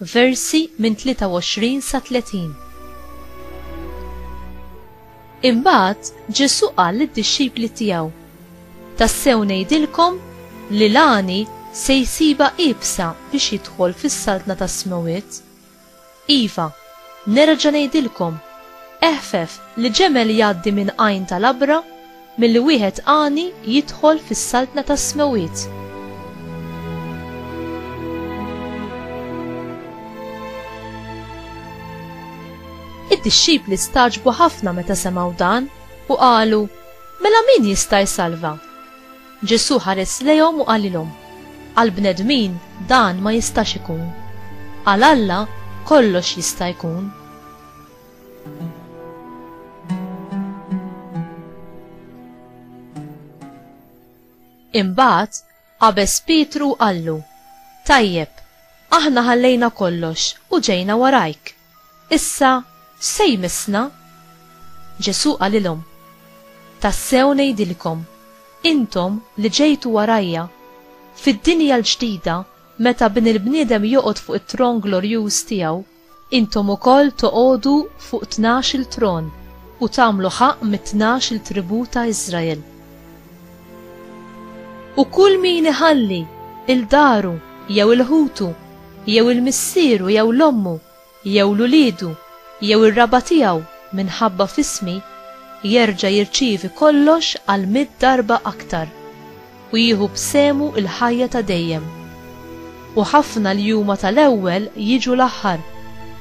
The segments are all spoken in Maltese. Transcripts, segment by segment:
versi minn 23 sa 30. Imbagħad Ġesù qal lid-dixxipli tiegħu, Tassew ngħidilkom li l-għani se jsibha iebsa biex jidħol fis-saltna tas-smewwiet. Iva, nerġa' ngħidilkom, eħfef li ġemel jgħaddi minn għajn ta' labra Milli wieħed għani jidħol fis-saltna tas-smewwiet. Id-dixxipli stagħġbu ħafna meta semgħu dan u qalu, Mela min jista' jsalva? Ġesù ħares lejhom u qalilhom, Għal bnedmin dan ma jistax ikun. Għal Alla kollox jista' jkun. Imbagħad qabeż Pietru u qallu, Tajjeb, aħna ħallejna kollox u ġejna warajk. Issa x'se jmissna? Ġesù qalilhom, Tassew ngħidilkom, intom li ġejtu warajja, fid-dinja l-ġdida meta Bin il-bniedem joqgħod fuq it-tron glorjuż tiegħu, Intom ukoll toqogħdu fuq tnax-il tron u tagħmlu ħaqq mit-tnax-il tribù ta' Israel. U kull min iħalli il daru jew il ħutu jew il missieru jew l ommu jew l uliedu jew ir raba' tiegħu minħabba f'ismi, jerġa' jirċievi kollox għal mitt darba aktar. u jieħu b'sehmu l-ħajja ta' dejjem. U ħafna li huma tal-ewwel jiġu l-aħħar,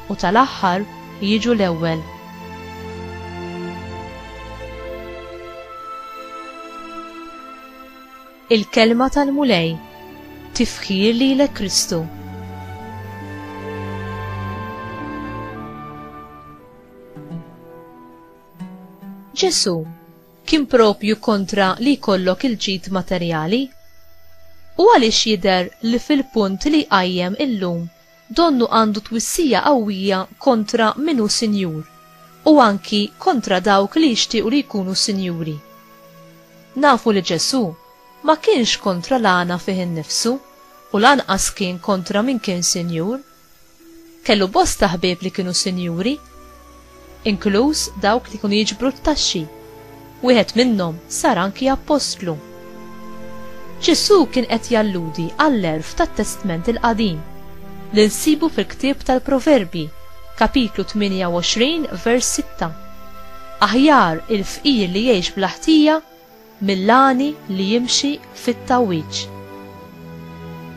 u tal-aħħar jiġu l-ewwel. Il-kelma tal-Mulej tifħir lilek Kristu. Ġesu, kien proprju kontra li jkollok il-ġid materjali? U għaliex jidher li fil-punt li jqajjem illum donnu għandu twissija qawwija kontra min hu sinjur u anki kontra dawk li jixtiequ li jkunu sinjuri? Nafu li Ġesù ma kienx kontra l-għana fih innifsu u lanqas kien kontra min kien sinjur. Kellu bosta ħbieb li kienu sinjuri, inkluż dawk li kienu jiġbru t-taxxi. Wieħed minnhom sar anki appostlu. Ġesù kien qed jalludi għall-għerf tat-Testment il-Qadim li nsibu fil-ktieb tal-Proverbji, kapitlu 28 vers 6. Aħjar il-fqir li jgħix bla ħtija mill-għani li jimxi fit-tgħawwiġ.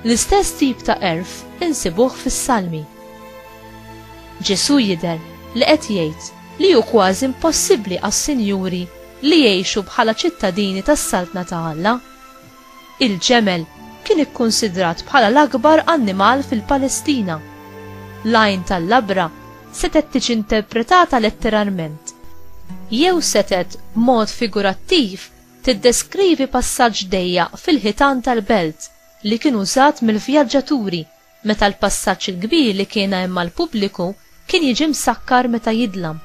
L-istess tip ta' għerf insibuh fis-Salmi. Ġesù jidher li qed jgħid li hu kważi impossibbli għas-sinjuri li jgħixu bħala ċittadini tas-Saltna ta' Alla. Il-ġemel kien ikkunsidrat bħala l-akbar annimal fil-Palestina. L-għajn tal-labra setgħet tiġi interpretata letteralment jew setgħet b'mod figurattiv tiddeskrivi passaġġ dejjaq fil-ħitan tal-belt li kien użat mill-vjaġġaturi meta l-passaġġ il-kbir li kien hemm għall-pubbliku kien jiġi msakkar meta jidlam.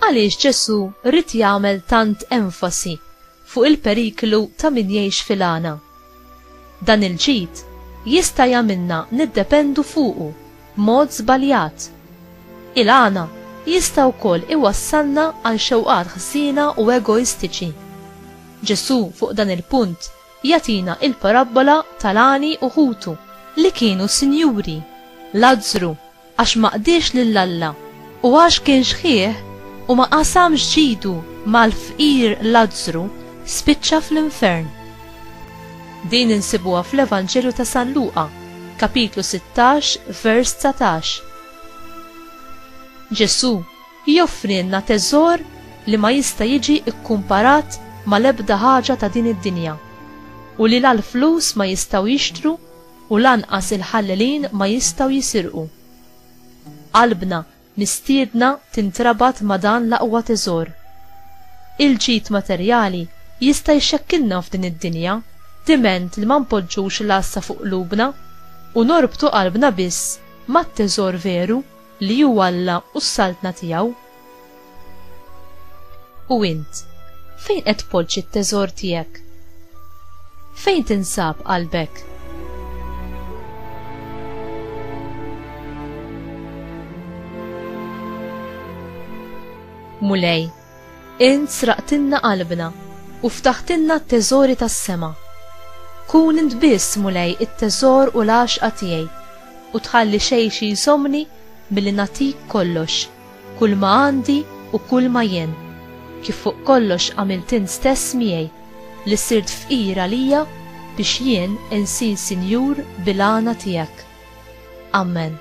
Għaliex Ġesù rrid jagħmel tant enfasi fuq il-periklu ta' min jgħix fil-għana. Dan il-ġid jista' jagħmilna niddependu fuqu b'mod żbaljat. Il-għana jista' wkoll iwassalna għal xewqat ħżiena u egoistiċi. Ġesù fuq dan il-punt jagħtina il-parabbola tal-għani u ħutu li kienu sinjuri, Lazzru, għax ma qdiex lil Alla, u għax kien xħieh u ma qasamx ġidu mal-fqir Lazzru, spiċċa fl-infern. Din insibuha fl-Evanġelju ta' San Luqa, kapitlu 16, vers 19. Ġesù joffrilna teżor li ma jista' jiġi kkumparat mal-ebda ħaġa ta' din id-dinja u li la l-flus ma jistgħu jixtru U lanqas il-ħallelin ma jistgħu jisirqu. Qalbna mistiedna tintrabat ma' dan l-aqwa teżor. Il-ġid materjali jista' jxekkilna f'din id-dinja diment li ma npoġġux l-għassa fuq qlubna u norbtu qalbna biss mat-teżor veru li hu Alla u s-Saltna tiegħu. U int, fejn qed tpoġġi t-teżor tiegħek? Fejn tinsab qalbek? Mulej, int sraqtilna qalbna u ftaħtilna t-teżori tas-sema. Kun int biss, Mulej, it-teżor u l-għaxqa tiegħi u tħalli xejn xi jżommni milli nagħtik kollox. Kulma għandi u kulma jien, kif fuq kollox għamilt int stess miegħi, li sirt fqir għalija biex jien insir sinjur bil-għana tiegħek. Amen.